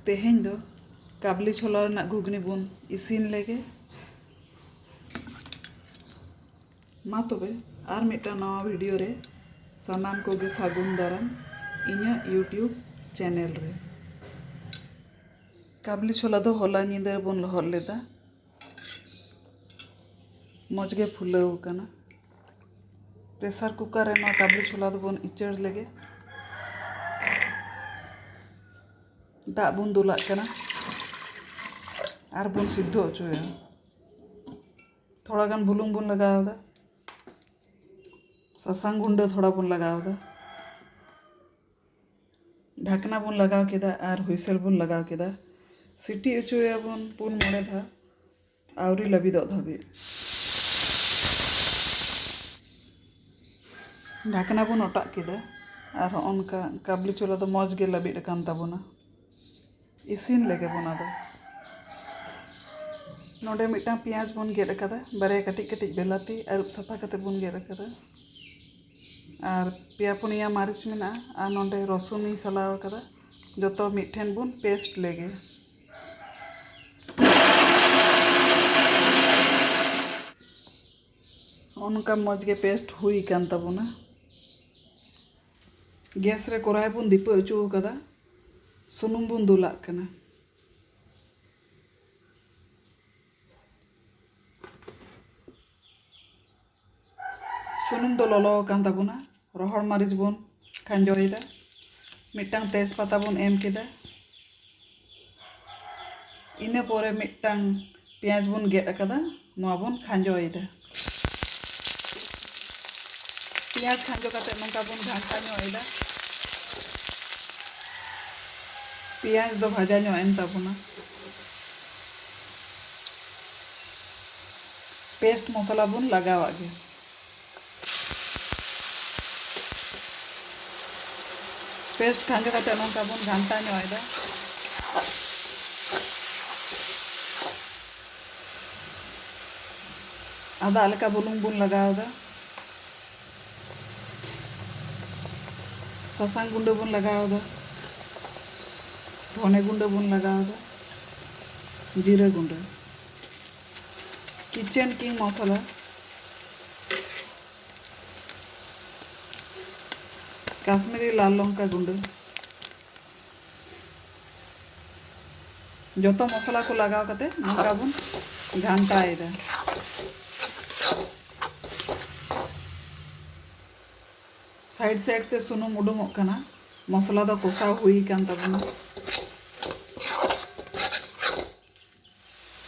ᱛᱮᱦᱮᱧ ᱫᱚ ᱠᱟᱵᱞᱤ ᱪᱷᱳᱞᱟ ᱨᱮᱱᱟᱜ ᱜᱷᱩᱜᱽᱱᱤ ᱵᱚᱱ ᱤᱥᱤᱱ ᱞᱮᱜᱮ ᱢᱟ ᱛᱚᱵᱮ ᱟᱨ ᱢᱤᱫᱴᱟᱝ ᱱᱟᱣᱟ ᱵᱷᱤᱰᱤᱭᱳ ᱨᱮ ᱥᱟᱱᱟᱢ ᱠᱚᱜᱮ ᱥᱟᱹᱜᱩᱱ ᱫᱟᱨᱟᱢ ᱤᱧᱟᱹᱜ ᱤᱭᱩᱴᱤᱭᱩᱵᱽ ᱪᱮᱱᱮᱞ ᱨᱮ ᱠᱟᱵᱞᱤ ᱪᱷᱳᱞᱟ ᱫᱚ ᱦᱚᱞᱟ ᱧᱤᱫᱟᱹ ᱵᱚᱱ ᱞᱚᱦᱚᱫ ᱞᱮᱫᱟ ᱢᱚᱡᱽ ᱜᱮ ᱯᱷᱩᱞᱟᱹᱣ ᱟᱠᱟᱱᱟ ᱯᱨᱮᱥᱟᱨ ᱠᱩᱠᱟᱨ ᱨᱮ ᱱᱚᱣᱟ ᱠᱟᱵᱩᱞᱤ ᱪᱷᱳᱞᱟ ᱫᱚᱵᱚᱱ ᱩᱪᱟᱹᱲ ᱞᱮᱜᱮ ᱫᱟᱜ ᱵᱚᱱ ᱫᱩᱞᱟᱜ ᱠᱟᱱᱟ ᱟᱨ ᱵᱚᱱ ᱥᱤᱫᱷᱚ ᱦᱚᱪᱚᱭᱟ ᱛᱷᱚᱲᱟ ᱜᱟᱱ ᱵᱩᱞᱩᱝ ᱵᱚᱱ ᱞᱟᱜᱟᱣᱫᱟ ᱥᱟᱥᱟᱝ ᱜᱩᱸᱰᱟᱹ ᱛᱷᱚᱲᱟ ᱵᱚᱱ ᱞᱟᱜᱟᱣᱫᱟ ᱰᱷᱟᱠᱱᱟ ᱵᱚᱱ ᱞᱟᱜᱟᱣ ᱠᱮᱫᱟ ᱟᱨ ᱦᱩᱭᱥᱮᱞ ᱵᱚᱱ ᱞᱟᱜᱟᱣ ᱠᱮᱫᱟ ᱥᱤᱴᱤ ᱚᱪᱚᱭᱟᱵᱚᱱ ᱯᱩᱱ ᱢᱚᱬᱮ ᱫᱷᱟᱣ ᱟᱹᱣᱨᱤ ᱞᱟᱹᱵᱤᱫᱚᱜ ᱫᱷᱟᱹᱵᱤᱡ ᱰᱷᱟᱠᱱᱟ ᱵᱚᱱ ᱚᱴᱟᱜ ᱠᱮᱫᱟ ᱟᱨ ᱦᱚᱸᱜᱼᱚ ᱱᱚᱝᱠᱟ ᱠᱟᱵᱩᱞᱤ ᱪᱷᱳᱞᱟ ᱫᱚ ᱢᱚᱡᱽ ᱜᱮ ᱞᱟᱹᱵᱤᱫ ᱟᱠᱟᱱ ᱛᱟᱵᱚᱱᱟ ᱤᱥᱤᱱ ᱞᱮᱜᱮ ᱵᱚᱱ ᱟᱫᱚ ᱱᱚᱰᱮ ᱢᱤᱫᱴᱟᱝ ᱯᱮᱸᱭᱟᱡᱽ ᱵᱚᱱ ᱜᱮᱫ ᱟᱠᱟᱫᱟ ᱵᱟᱨᱭᱟ ᱠᱟᱹᱴᱤᱡ ᱠᱟᱹᱴᱤᱡ ᱵᱮᱞᱟᱛᱤ ᱟᱹᱨᱩᱵ ᱥᱟᱯᱷᱟ ᱠᱟᱛᱮ ᱵᱚᱱ ᱜᱮᱫ ᱟᱠᱟᱫᱟ ᱟᱨ ᱯᱮᱭᱟ ᱯᱩᱱᱭᱟ ᱢᱟᱹᱨᱤᱪ ᱢᱮᱱᱟᱜᱼᱟ ᱟᱨ ᱱᱚᱰᱮ ᱨᱚᱥᱩᱱ ᱤᱧ ᱥᱟᱞᱟᱣ ᱟᱠᱟᱫᱟ ᱡᱚᱛᱚ ᱢᱤᱫ ᱴᱷᱮᱱ ᱵᱚᱱ ᱯᱮᱥᱴ ᱞᱮᱜᱮ ᱚᱱᱠᱟ ᱢᱚᱡᱽ ᱜᱮ ᱯᱮᱥᱴ ᱦᱩᱭ ᱟᱠᱟᱱ ᱛᱟᱵᱚᱱᱟ ᱜᱮᱥ ᱨᱮ ᱠᱚᱲᱟᱭ ᱵᱚᱱ ᱫᱤᱯᱟᱹ ᱦᱚᱪᱚ ᱟᱠᱟᱫᱟ ᱥᱩᱱᱩᱢ ᱵᱚᱱ ᱫᱩᱞᱟᱜ ᱠᱟᱱᱟ᱾ ᱥᱩᱱᱩᱢ ᱫᱚ ᱞᱚᱞᱚ ᱟᱠᱟᱱ ᱛᱟᱵᱚᱱᱟ᱾ ᱨᱚᱦᱚᱲ ᱢᱟᱹᱨᱤᱪ ᱵᱚᱱ ᱠᱷᱟᱸᱡᱚᱭᱮᱫᱟ᱾ ᱢᱤᱫᱴᱟᱝ ᱛᱮᱡᱽ ᱯᱟᱛᱟ ᱵᱚᱱ ᱮᱢ ᱠᱮᱫᱟ᱾ ᱤᱱᱟᱹ ᱯᱚᱨᱮ ᱢᱤᱫᱴᱟᱝ ᱯᱮᱸᱭᱟᱡᱽ ᱵᱚᱱ ᱜᱮᱫ ᱟᱠᱟᱫᱟ ᱱᱚᱣᱟ ᱵᱚᱱ ᱠᱷᱟᱸᱡᱚᱭᱮᱫᱟ ᱯᱮᱸᱭᱟᱡᱽ ᱠᱷᱟᱸᱡᱚ ᱠᱟᱛᱮ ᱱᱚᱝᱠᱟ ᱵᱚᱱ ᱜᱷᱟᱱᱴᱟ ᱧᱚᱜ ᱮᱫᱟ ᱯᱮᱸᱭᱟᱡᱽ ᱫᱚ ᱵᱷᱟᱡᱟ ᱧᱚᱜ ᱮᱱ ᱛᱟᱵᱚᱱᱟ ᱯᱮᱥᱴ ᱢᱚᱥᱞᱟ ᱵᱚᱱ ᱞᱟᱜᱟᱣᱟᱜ ᱜᱮ ᱯᱮᱥᱴ ᱠᱷᱟᱸᱡᱚ ᱠᱟᱛᱮ ᱱᱚᱝᱠᱟ ᱵᱚᱱ ᱜᱷᱟᱱᱴᱟ ᱧᱚᱜ ᱮᱫᱟ ᱟᱫᱟᱜ ᱞᱮᱠᱟ ᱵᱩᱞᱩᱝ ᱵᱚᱱ ᱞᱟᱜᱟᱣᱫᱟ ᱥᱟᱥᱟᱝ ᱜᱩᱸᱰᱟᱹ ᱵᱚᱱ ᱞᱟᱜᱟᱣᱫᱟ ᱫᱷᱚᱱᱮ ᱜᱩᱸᱰᱟᱹ ᱵᱚᱱ ᱞᱟᱜᱟᱣᱫᱟ ᱡᱤᱨᱟᱹ ᱜᱩᱸᱰᱟᱹ ᱠᱤᱪᱮᱱ ᱠᱤᱝ ᱢᱚᱥᱚᱞᱟ ᱠᱟᱥᱢᱤᱨᱤ ᱞᱟᱞ ᱞᱚᱝᱠᱟ ᱜᱩᱸᱰᱟᱹ ᱡᱚᱛᱚ ᱢᱚᱥᱞᱟ ᱠᱚ ᱞᱟᱜᱟᱣ ᱠᱟᱛᱮ ᱱᱚᱝᱠᱟ ᱵᱚᱱ ᱜᱷᱟᱱᱴᱟᱭᱮᱫᱟ ᱥᱟᱭᱤᱰ ᱥᱟᱭᱤᱰ ᱛᱮ ᱥᱩᱱᱩᱢ ᱩᱰᱩᱝᱚᱜ ᱠᱟᱱᱟ ᱢᱚᱥᱞᱟ ᱫᱚ ᱠᱚᱥᱟᱣ ᱦᱩᱭ ᱟᱠᱟᱱ ᱛᱟᱵᱚᱱᱟ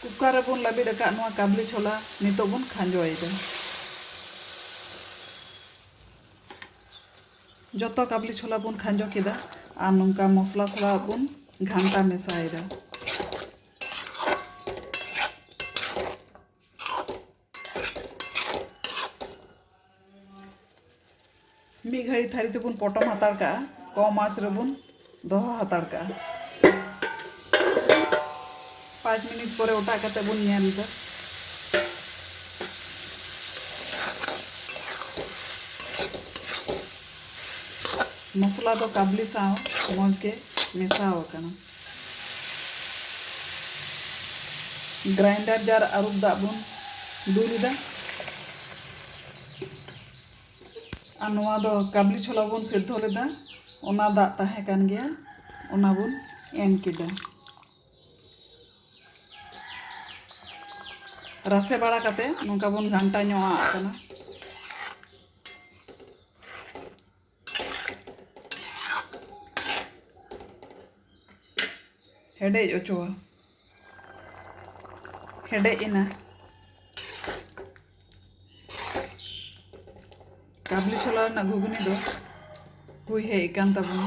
ᱠᱩᱠᱟᱨ ᱨᱮ ᱵᱚᱱ ᱞᱟᱹᱵᱤᱫ ᱟᱠᱟᱫ ᱱᱚᱣᱟ ᱠᱟᱵᱽᱞᱤ ᱪᱷᱚᱞᱟ ᱱᱤᱛᱚᱜ ᱵᱚᱱ ᱠᱷᱟᱸᱡᱚᱭᱮᱫᱟ᱾ ᱡᱚᱛᱚ ᱠᱟᱵᱽᱞᱤ ᱪᱷᱚᱞᱟ ᱵᱚᱱ ᱠᱷᱟᱸᱡᱚ ᱠᱮᱫᱟ ᱟᱨ ᱱᱚᱝᱠᱟ ᱢᱚᱥᱞᱟ ᱥᱟᱞᱟᱜ ᱵᱚᱱ ᱜᱷᱟᱱᱴᱟ ᱢᱮᱥᱟᱭᱮᱫᱟ᱾ ᱢᱤᱫ ᱜᱷᱟᱹᱲᱤ ᱛᱷᱟᱹᱨᱤ ᱛᱮᱵᱚᱱ ᱯᱚᱴᱚᱢ ᱦᱟᱛᱟᱲ ᱠᱟᱜᱼᱟ ᱠᱚᱢ ᱟᱸᱪ ᱨᱮᱵᱚᱱ ᱫᱚᱦᱚ ᱦᱟᱛᱟᱲ ᱠᱟᱜᱼᱟ ᱯᱟᱸᱪ ᱢᱤᱱᱤᱴ ᱯᱚᱨᱮ ᱚᱴᱟᱜ ᱠᱟᱛᱮ ᱵᱚᱱ ᱧᱮᱞ ᱮᱫᱟ ᱢᱚᱥᱞᱟ ᱫᱚ ᱠᱟᱵᱽᱞᱤ ᱥᱟᱶ ᱢᱚᱡᱽ ᱜᱮ ᱢᱮᱥᱟᱣ ᱟᱠᱟᱱᱟ ᱜᱨᱟᱭᱤᱱᱰᱟᱨ ᱡᱟᱨ ᱟᱹᱨᱩᱵ ᱫᱟᱜ ᱵᱚᱱ ᱫᱩᱞ ᱮᱫᱟ ᱟᱨ ᱱᱚᱣᱟ ᱫᱚ ᱠᱟᱵᱞᱤ ᱪᱷᱚᱞᱟ ᱵᱚᱱ ᱥᱮᱫᱷᱚ ᱞᱮᱫᱟ ᱚᱱᱟ ᱫᱟᱜ ᱛᱟᱦᱮᱸ ᱠᱟᱱ ᱜᱮᱭᱟ ᱚᱱᱟ ᱵᱚᱱ ᱮᱢ ᱠᱮᱫᱟ ᱨᱟᱥᱮ ᱵᱟᱲᱟ ᱠᱟᱛᱮ ᱱᱚᱝᱠᱟ ᱵᱚᱱ ᱜᱷᱟᱱᱴᱟ ᱧᱚᱜ ᱟᱜ ᱠᱟᱱᱟ ᱦᱮᱰᱮᱡ ᱚᱪᱚ ᱦᱮᱰᱮᱡ ᱮᱱᱟ ᱠᱟᱵᱞᱤ ᱪᱷᱚᱞᱟ ᱨᱮᱱᱟᱜ ᱜᱷᱩᱜᱽᱱᱤ ᱫᱚ ᱦᱩᱭ ᱦᱮᱡ ᱟᱠᱟᱱ ᱛᱟᱵᱚᱱᱟ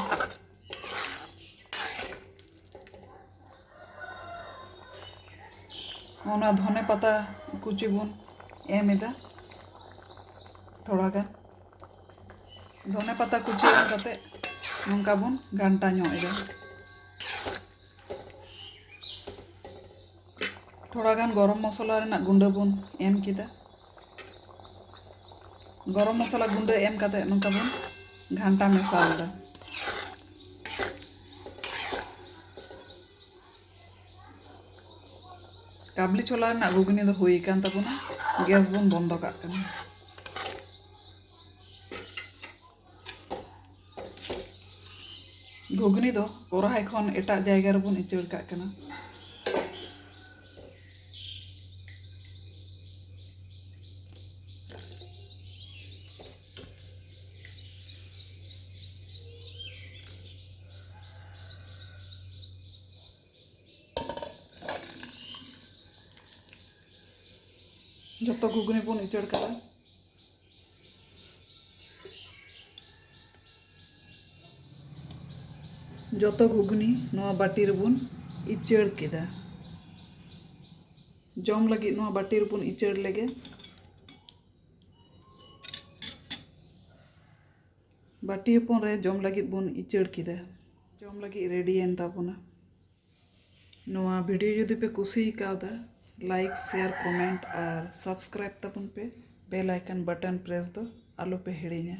ᱚᱱᱟ ᱫᱷᱚᱱᱮ ᱯᱟᱛᱟ ᱠᱩᱪᱤ ᱵᱚᱱ ᱮᱢ ᱮᱫᱟ ᱛᱷᱚᱲᱟ ᱜᱟᱱ ᱫᱷᱚᱱᱮ ᱯᱟᱛᱟ ᱠᱩᱪᱤ ᱮᱢ ᱠᱟᱛᱮ ᱱᱚᱝᱠᱟ ᱵᱚᱱ ᱜᱷᱟᱱᱴᱟ ᱧᱚᱜ ᱮᱫᱟ ᱛᱷᱚᱲᱟ ᱜᱟᱱ ᱜᱚᱨᱚᱢ ᱢᱚᱥᱞᱟ ᱨᱮᱱᱟᱜ ᱜᱩᱸᱰᱟᱹ ᱵᱚᱱ ᱮᱢ ᱠᱮᱫᱟ ᱜᱚᱨᱚᱢ ᱢᱚᱥᱞᱟ ᱜᱩᱸᱰᱟᱹ ᱮᱢ ᱠᱟᱛᱮ ᱱᱚᱝᱠᱟ ᱵᱚᱱ ᱜᱷᱟᱱᱴᱟ ᱢᱮᱥᱟᱞᱮᱫᱟ ᱠᱟᱵᱞᱤ ᱪᱷᱳᱞᱟ ᱨᱮᱱᱟᱜ ᱜᱷᱩᱜᱽᱱᱤ ᱫᱚ ᱦᱩᱭ ᱟᱠᱟᱱ ᱛᱟᱵᱚᱱᱟ ᱜᱮᱥ ᱵᱚᱱ ᱵᱚᱱᱫᱚ ᱠᱟᱜ ᱠᱟᱱᱟ ᱜᱷᱩᱜᱽᱱᱤ ᱫᱚ ᱠᱚᱨᱟᱦᱟᱭ ᱠᱷᱚᱱ ᱮᱴᱟᱜ ᱡᱟᱭᱜᱟ ᱨᱮᱵᱚᱱ ᱩᱪᱟᱹᱲ ᱠᱟᱜ ᱠᱟᱱᱟ ᱡᱚᱛᱚ ᱜᱷᱩᱜᱽᱱᱤ ᱵᱚᱱ ᱩᱪᱟᱹᱲ ᱠᱟᱜᱼᱟ ᱡᱚᱛᱚ ᱜᱷᱩᱜᱽᱱᱤ ᱱᱚᱣᱟ ᱵᱟᱹᱴᱤ ᱨᱮᱵᱚᱱ ᱤᱪᱟᱹᱲ ᱠᱮᱫᱟ ᱡᱚᱢ ᱞᱟᱹᱜᱤᱫ ᱱᱚᱣᱟ ᱵᱟᱹᱴᱤ ᱨᱮᱵᱚᱱ ᱤᱪᱟᱹᱲ ᱞᱮᱜᱮ ᱵᱟᱹᱴᱤ ᱦᱚᱯᱚᱱ ᱨᱮ ᱡᱚᱢ ᱞᱟᱹᱜᱤᱫ ᱵᱚᱱ ᱤᱪᱟᱹᱲ ᱠᱮᱫᱟ ᱡᱚᱢ ᱞᱟᱹᱜᱤᱫ ᱨᱮᱰᱤᱭᱮᱱ ᱛᱟᱵᱚᱱᱟ ᱱᱚᱣᱟ ᱵᱷᱤᱰᱤᱭᱳ ᱡᱩᱫᱤ ᱯᱮ ᱠᱩᱥᱤ ᱠᱟᱣᱫᱟ ᱞᱟᱭᱤᱠ ᱥᱮᱭᱟᱨ ᱠᱚᱢᱮᱱᱴ ᱟᱨ ᱥᱟᱵᱥᱠᱨᱟᱭᱤᱵ ᱛᱟᱵᱚᱱ ᱯᱮ ᱵᱮᱞ ᱟᱭᱠᱚᱱ ᱵᱟᱴᱚᱱ ᱯᱨᱮᱥ ᱫᱚ ᱟᱞᱚ ᱯᱮ ᱦᱤᱲᱤᱧᱟ